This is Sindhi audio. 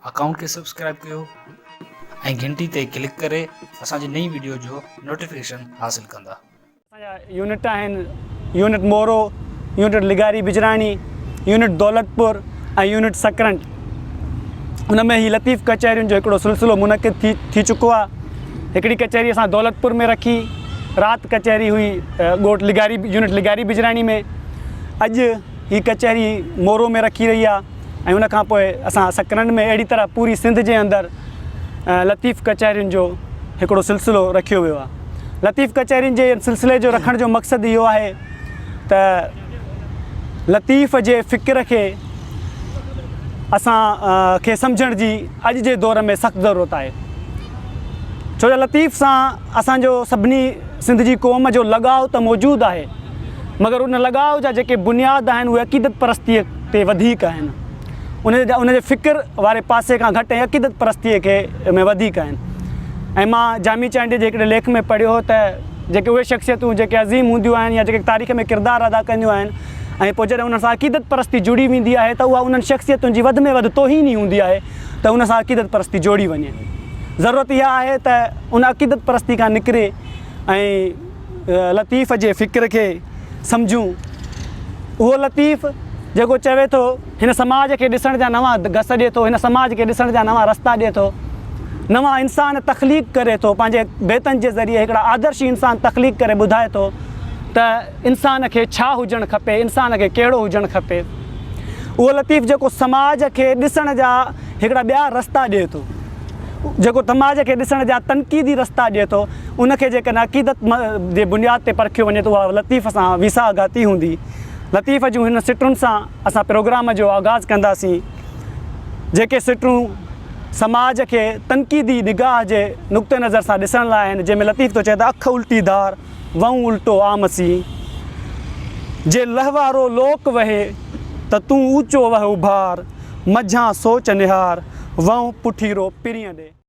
اڪائونٽ کي سبسڪرائب ڪيو ۽ گهنٽي تي ڪلڪ ڪري اسان جي نئين وڊيو جو نوٽيفڪيشن حاصل ڪندا. اسان جا يونٽ آهن يونٽ مورو، يونٽ لغاري بجراڻي، يونٽ دولتپور ۽ يونٽ سڪرنڊ. ان ۾ هي لطيف ڪچهرين جو هڪڙو سلسلو منعقد ٿي ٿي چڪو آهي هڪڙي ڪچهري اسان دولتپور ۾ رکي رات ڪچهري هئي ڳوٺ لغاري يونٽ لغاري بجراڻي ۾ اڄ هي ڪچهري مورو ۾ رکي رهي آهي ۽ ان کان پوء اسان سڪرنڊ ۾ اهڙي طرح پوري سنڌ جي اندر لطيف ڪچهرين جو هڪڙو سلسلو رکيو ويو آهي لطيف ڪچهرين جي سلسلي جو رکڻ جو مقصد اهو آهي ته لطيف جي فڪر کي اسان کي سمجهڻ جي اڄ جي دور ۾ سخت ضرورت آهي ڇو جو لطيف سان اسان جو سڀني سنڌ جي قوم جو لڳاء ته موجود آهي مگر ان لڳاء جا جيڪي بنياد آهن اهي عقيدت پرستيء تي وڌيڪ آهن ان جا ان جي فڪر واري پاسي کان گهٽ ۽ عقيدت پرستيء کي ۾ وڌيڪ آهن ۽ مان جامي چانڊيي جي هڪڙي ليک ۾ پڙهيو هو ته جيڪي اهي شخصيتون جيڪي عظيم هونديون آهن يا جيڪي تاريخ ۾ ڪردار ادا ڪنديون آهن ۽ پوء جڏهن انهن سان عقيدت پرستي جڙي ويندي آهي ته اها انهن شخصيتن جي وڌ ۾ وڌ توهين ئي هوندي آهي ته ان سان عقيدت پرستي جوڙي وڃي ضرورت اها آهي ته ان عقيدت پرستي کان نڪري ۽ لطيف جي فڪر کي سمجهون. اهو لطيف جيڪو چوي ٿو، هن سماج کي ڏسڻ جا نوان گس ڏئي ٿو، هن سماج کي ڏسڻ جا نوان رستا ڏئي ٿو، نوان انسان تخليق ڪري ٿو، پنهنجي بيتن جي ذريعي هڪڙا آدرشي انسان تخليق ڪري ٻڌائي ٿو ته انسان کي ڇا هجڻ کپي، انسان کي ڪهڙو هجڻ کپي. اهو لطيف جيڪو سماج کي ڏسڻ جا هڪڙا ٻيا رستا ڏئي ٿو. جيڪو سماج کي ڏسڻ جا تنقيدي رستا ڏئي ٿو، ان کي جيڪڏهن عقيدت جي بنياد تي پرکيو وڃي ته اها لطيف سان ويساهه گهاتي هوندي. لطيف جون هن سٽون سان اسان پروگرام جو آغاز ڪنداسين، جيڪي سٽون سماج کي تنقيدي نگاهه جي نقطه نظر سان ڏسڻ لاء آهن، جنهن ۾ لطيف ٿو چئي ته اک الٽي ڌار، وهون الٽو عام سين، جي لهوارو لوڪ وهي ته تون اوچو وهه اڀار، مجهان سوچ نهار، وهون پٺيرو پرينء ڏي.